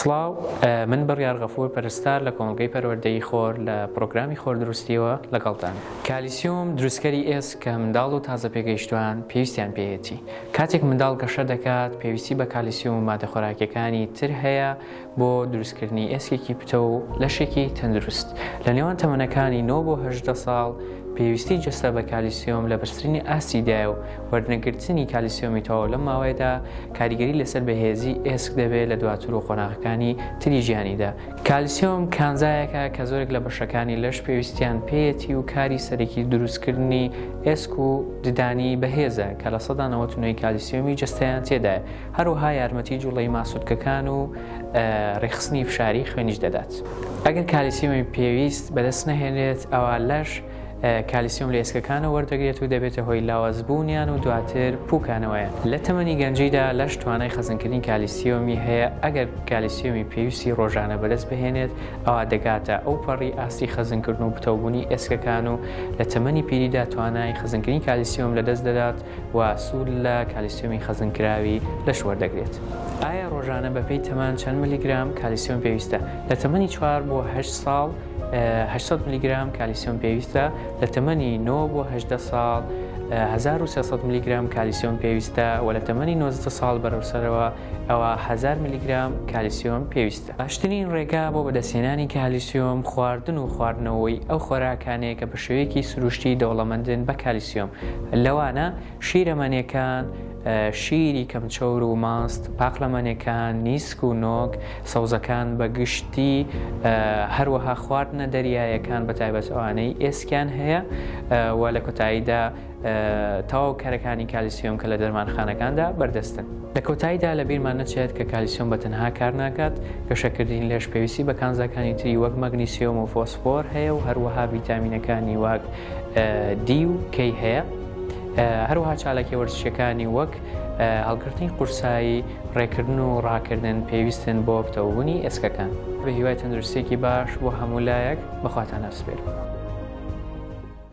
سڵاو، من بڕیار غەفور پەرستار لە کۆمەڵگەی پەروەردەیی خۆر لە پڕۆگرامی خۆردروستییەوە لەگەڵتان. کالیسیۆم دروستکەری ئێسک کە منداڵ و تازە پێگەیشتووان پێویستیان پێیەتی. کاتێک منداڵ گەشە دەکات پێویستی بە کالیسیۆم و مادە خۆراکییەکانی تر هەیە بۆ دروستکردنی ئێسکێکی پتەو و لەشێکی تەندروست. لە نێوان تەمەنەکانی نۆ بۆ هەژدە ساڵ پێویستی جەستە بە کالیسیۆم لە بەرزترین ئاستیدایە و وەرنەگرتنی کالیسیۆمی تەواو لەم ماوەیەدا کاریگەری لەسەر بەهێزی ئێسک دەبێت لە دواتر و قۆناغەکانی تری ژیانیدا کالیسیۆم کانزایەکە کە زۆرێک لە بەشەکانی لەش پێویستیان پێیەتی و کاری سەرەکی دروستکردنی ئێسک و ددانی بەهێزە کە لە سەدا نەوەت نوێی کالیسیۆمی جستەیان تێدایە هەروەها یارمەتی جوڵەی ماسولکەکان و ڕێخستنی فشاری خوێنیش دەدات ئەگەر کالیسیۆمی پێویست بەدەست نەهێنێت ئەوە لەش کالیسیۆم لە ئێسکەکانە وەردەگرێت و دەبێتە هۆی لاوازبوونیان و دواتر پوکانەوەیە لە تەمەنی گەنجیدا لەش توانای خەزنکردنی کالیسیۆمی هەیە ئەگەر کالیسیۆمی پێویستی ڕۆژانە بەرز بهێنێت ئەوا دەگاتە ئەو پەڕی ئاستی خەزنکردن و پتەوبوونی ئێسکەکان و لە تەمەنی پیریدا توانای خەزنکردنی کالیسیۆم لە دەست دەدات و سوود لە کالیسیۆمی خەزنکراوی لەش وەردەگرێت. ئایا ڕۆژانە بەپێی تەمان چەند ملیگرام کالیسیۆم پێویستە؟ لە تەمەنی چوار بۆ هەشت ساڵ 800 ملیگرام کالیسیۆم پێویستە لە تەمەنی 9 بۆ 18 ساڵ 1300 ملیگرام کالیسیۆم پێویستە و لە تەمەنی 90 ساڵ بەرەوسەرەوە ئەوە 1000 ملیگرام کالیسیۆم پێویستە باشترین ڕێگا بۆ بەدەستێنانی کالیسیۆم خواردن و خواردنەوەی ئەو خۆراکانەیە کە بە شێوەیەکی سروشتی دەوڵەمەندن بە کالیسیۆم لەوانە شیرە مەنێکان، شیری کەمچەور و ماست، پاقلە مەنێکان، نیسک و نۆک، سەوزەکان بە گشتی، هەروەها خواردنە دەریایەکان بە تایبەت ئەوانەی ئێسکیان هەیە و لە کۆتاییدا تەواو کەرەکانی کالیسیۆم کە لە دەرمانخانەکاندا بەردەستن. لە کۆتاییدا لە بیرمان نەچێت کە کالیسیۆم بە تەنها کار ناکات، گەشەکردنی لەش پێویستی بە کانزاکانی تری وەک مەگنیسیۆم و فۆسفۆر هەیە و هەروەها ڤیتامینەکانی وەک دی و کەی هەیە. هەروەها چالاکیە وەرزشیەکانی وەک هەڵگرتنی قورسایی، ڕێکردن و ڕاکردن پێویستن بۆ پتەوبوونی ئێسکەکان. بەهیوای تەندروستیەکی باش بۆ هەموو لایەک، بەخواتان ئەسپێرم.